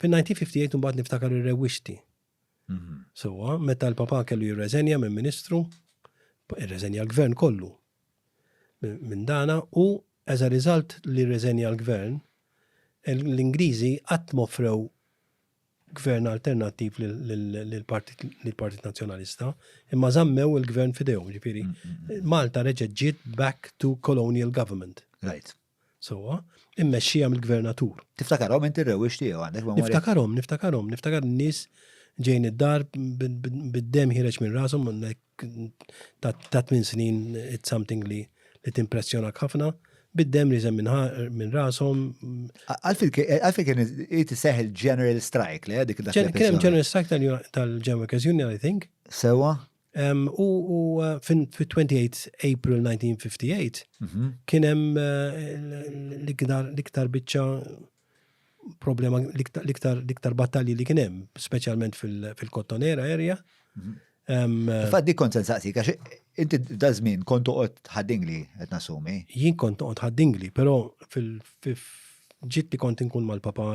Fin-1958 imbagħad niftakar ir-rewwixti. Mhm. Sewwa, meta l-papa kellu jirreżenja minn ministru, irreżenja l-gvern kollu minn dana u as a result li rreżenja l-gvern, l-Ingliżi qatt mofrew gvern alternattiv lill-Partit Nazzjonalista, imma żammew il-gvern fidejhom, ġifieri. Mm, mm, mm. Malta reġgħet ġiet back to colonial government. Right. sewwa, immexxija mill-gvernatur. Tiftakarhom inti r-rewwix tiegħu għandek memorja? Niftakarhom, niftakarhom, niftakar n-nies ġejn id-dar bid-dem ħireġ minn rashom ta' tmien snin it's something li li timpressjonak ħafna bid-dem li minn minn rashom. Għalfil kien jiti seħ il-General Strike li għadik dak Kien hemm General Strike tal-Ġemma Kazjuni, I think. Sewa? U fit-28 April 1958 mhm. kien hemm eh, l-iktar biċċa problema l-iktar battalji li kien hemm, speċjalment fil-Kottonera area. Mhm. Eh, Faddi kont sensaqsi, għax inti da żmien kont toqgħod ħaddingli qed nasumi. Jien kont toqgħod ħaddingli, però fil ġitti kont inkun mal-papa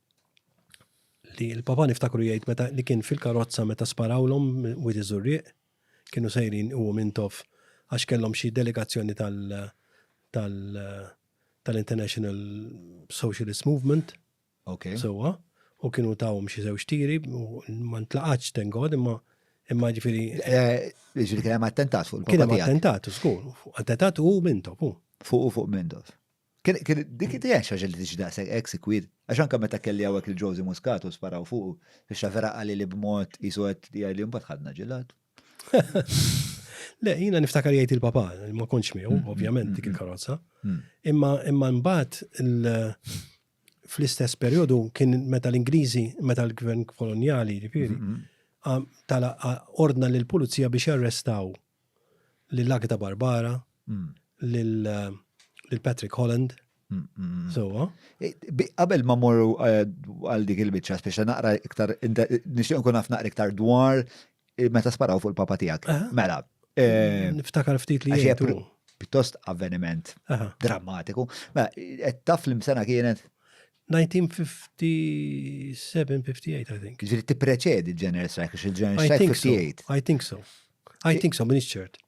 li l-papa niftakru jgħid meta li kien fil-karozza meta sparawlhom wid iżurriq kienu sejrin u mintof għax kellhom xi delegazzjoni tal tal tal-International Socialist Movement. Ok. Sewa, u kienu tawhom xi żewġ tiri u ma ntlaqatx tengod imma imma ġifieri. Eh, ġifieri kien hemm attentat fuq il-papa. Kien hemm attentat, żgur. Attentat u mintof, u. Fuq u fuq mintof. Dik id għax li tiġi daqshekk hekk sikwit. Għax anke meta kelli hawnhekk lil Josie Muscat u sparaw fuqu, biex vera qali li b'mod qisu qed jgħidli mbagħad ħadna ġilad. Le, jiena niftakar jgħid il-papa, ma kontx miegħu, mm, ovvjament mm, dik mm, il-karozza. Imma imma mbagħad fl-istess perjodu kien meta l-Ingliżi, meta l-gvern koloniali, ġifieri, tala ordna lill pulizija biex jarrestaw lil Agda Barbara, lil Patrick Holland. Sowa. Qabel ma morru eh, għal dik il-bicċa, speċa naqra iktar, nixtieq nkun naf naqra iktar dwar eh, meta sparaw fuq il-papa tiegħek. Eh? Mela. Niftakar ftit li jgħidu. Pittost avveniment drammatiku. Mela, qed taf l-imsena kienet 1957, 58, I think. Ġiri ti preċedi General Strike, il-General Strike 58. I think so. I think so, minix ċert.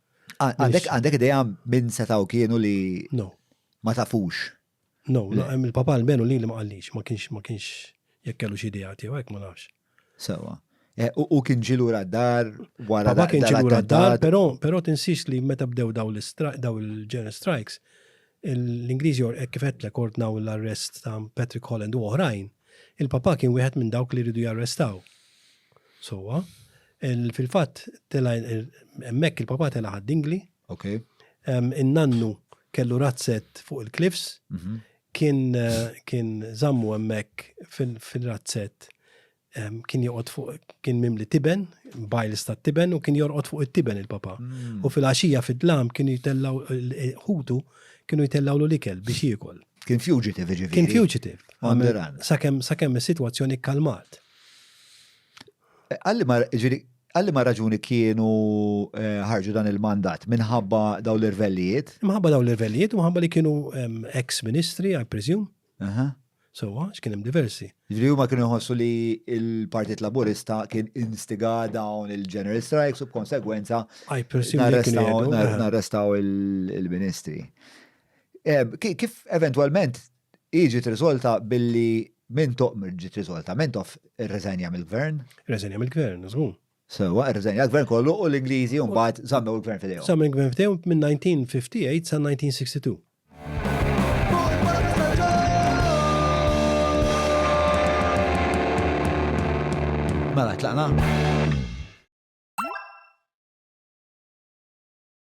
Għandek ideja minn setaw kienu li ma tafux. No, il-papa l-benu li li ma għallix, ma kienx, ma kienx, jekk kellu xi idea tiegħu hekk ma nafx. Sewa. Eh, u kien ġilu raddar wara. Ma kien ġilu raddar, pero, pero tinsix li meta bdew daw il-ġen strikes, l-Ingliżi or kifet l ordnaw l-arrest ta' Patrick Holland u oħrajn, il-papa kien wieħed minn dawk li ridu jarrestaw. Sowa, Fil-fatt, tela' hemmhekk il-papà tela' ħadd dingli. Okay. In-nannu kellu razzett fuq il-cliffs, mhm. kien kien żammu hemmhekk fil-razzett kien joqgħod fuq kien mimli tiben, bajls ta' tiben u kien jorqod fuq it-tiben il-papa. Mm. U fil-għaxija fid-dlam kienu jtellaw ħutu kienu jtellaw l-ikel biex jiekol. Kien fugitive ġifieri. Kien fugitive. Sakemm sakemm is-sitwazzjoni kkalmat. Għal liema, ġiri, għal liema raġuni kienu eh, ħarġu dan il-mandat minħabba daw l-irvellijiet? Minħabba daw l-irvellijiet, minħabba li kienu ex-ministri, I presume. Aha. Sowa, x'kien hemm diversi. Ġiri huma kienu jħossu li il-Partit Laburista kien instiga dawn il-General Strikes u b'konsegwenza I presume li kienu narrestaw jgħidu, nar- aha. narrestaw il- il-ministri. Eh, ki- Kif eventualment Hi ġiet riżolta billi minn ġiet riżolta, Mentoff irriżenja mill-Gvern. Irriżenja mill-Gvern, żgur. Sewwa, irriżenja l-Gvern kollu u l-Ingliżi mbagħad żammew il-Gvern f'idejhom. Żammew il-Gvern f'idejhom mill-1958 sal-1962. Mela tlaqna.